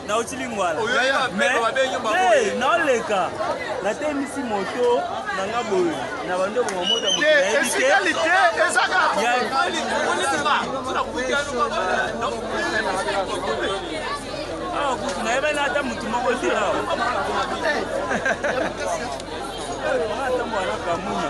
nauti lingwala naleka natemisi moto na nga boye na bandeko ma moto awa kutu nayebani ata motu moko te awa atambo wana kamuna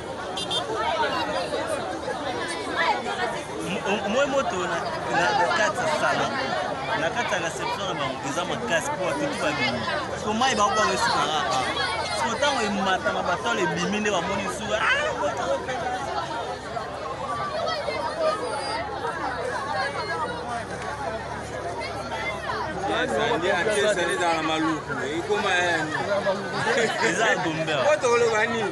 moi moto na kati ya salon na kati ya reception na bango eza makasi mpo batutu babimi so mai bango bango esuka kaka so ntango ematama batole ebimi nde bamoni suka ezali ezala maluku ekoma yani eza gombe oyo tokoloba nini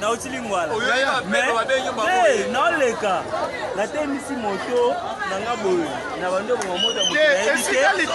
nauti lingwala mais naoleka natemisi moto na nga boye na bando ebonga moto ya moto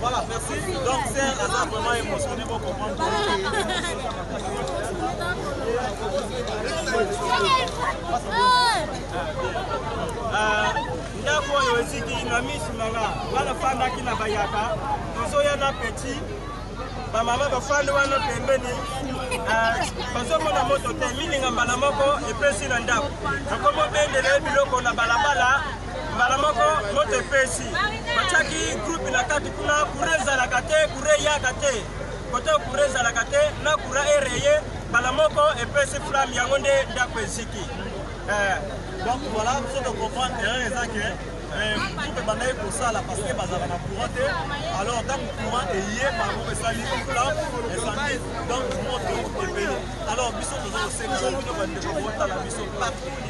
Voilà, merci. Donc, c'est un hasard vraiment émotionné pour comprendre. ndako oyo eziki na misu na nga nga nafandaki na bayaka tozoya na petit bamama bafandi wana pembeni bazomona moto te milinga mbala moko epesi na ndako nakomi obendele biloko na balabala mbala moko moto epesi batiaki groupe na kati kuna kura ezalaka te kura eyaka te kote kura ezalaka te na kura ereye mbala moko epesi flamme yango nde ndako eziki eh. donc voilà biso tocomprendre erreur eza ke groupe ebandaki kosala parce que bazalaka na courant te alors ntango courant eye bango esali flamme esandi donc moto ebeli alors biso toza kosenga bino bandeko botala biso partout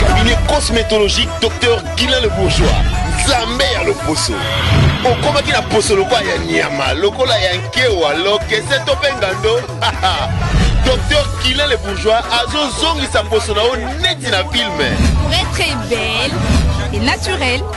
Cabinet cosmétologique Docteur Guilain le Bourgeois, Nzambe ya loposo. okomaki na poso lokola ya nyama lokola ya nkewa lokese to mpe ngando docteur kilin le bourgeois azozongisa poso na yo neti na filme très très belle et naturelle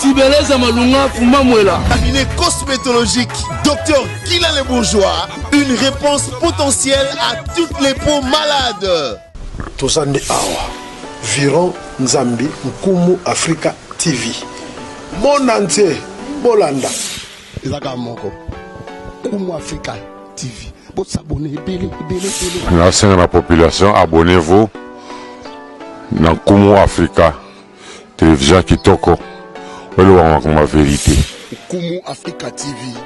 Tibeleza Malunga Fumamwela. Cabinet cosmétologique Docteur Kila le Bourgeois, une réponse potentielle à toutes les peaux malades. toza nde awa viron nzambi nkumu africa tv monde entier bolanda eza kaka moko nkumu africa tv bosabone ebele ebele ebele nasenga na population abonnez-vous na nkumu africa Television kitoko oloba makambo ya verite. Nkumu Africa TV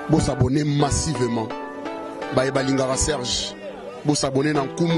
bo s'abonner massivement baye balingaka Serge bo s'abonner na Nkumu.